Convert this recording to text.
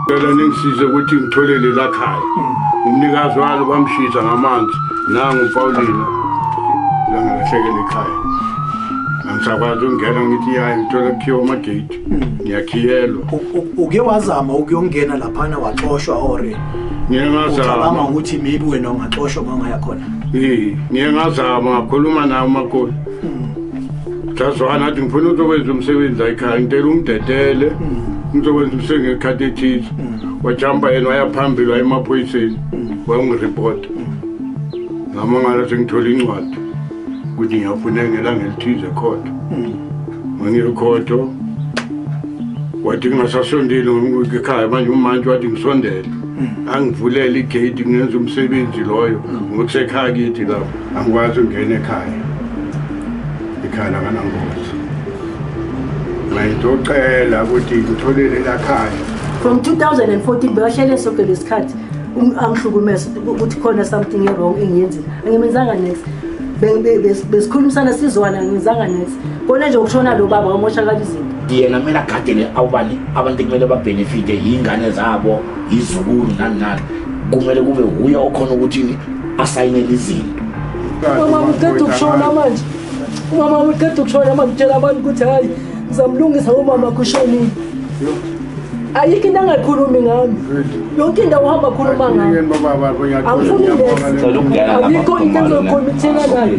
Ngicela ningisize ukuthi ngitholele la khaya. Umnikazi walo bamshisa ngamanzi nangu uPaulina. Langalahlekelwe ikhaya. Angisakwazi ukungena ngithi yayi ngithola kukhiwa amagate. Ngiyakhiyelwa. U- u- uke wazama ukuyongena laphana waxoshwa or Ngike ngazama. ucabanga ukuthi maybe wena ungaxoshwa uma ungaya khona Eh, ngike ngazama ngakhuluma nawo umakoti. Jazwana athi ngifuna ukuzokwenza umsebenzi la ekhaya ngicela ungidedele ngizokwenza umsebenzi ngekhathi ethize wajamba yena waya phambili waya emaphoyiseni wayongiripota ngamangala sengithole incwadi ukuthi ngiyafuneka ngelanga elithize khotho mangiyokhotho wathi kungasasondeli ekhaya manje umantshi wathi ngisondele angivulele igate ngenza umsebenzi loyo ngokusekhaya kithi lapho angikwazi ungena ekhaya ikhala nganangozi ngayitocela ukuthi ngitholele lakhaya from 2014 bewahlele sonke lesikhathi um, angihlukumeza ukuthi khona something ewrong engiyenzile angimenzanga next besikhulumisana sizwana angimenzanga next kona nje ukushona lo baba wamoshakala izinto yena kumele agadele awubani abantu kumele babhenefite yingane zabo izukulu nani nani kumele kube wuye okhona ukuthini asayinele izinto umama uqeda ukushona manje umama uqeda ukushona manje utshela abantu ukuthi hhayi ngizamlungisa umama kushonile ayikho into angayikhulumi ngami yonke indawo uhamba khuluma ngami angifuni leyikho into engizoyikhuluma ithina nayo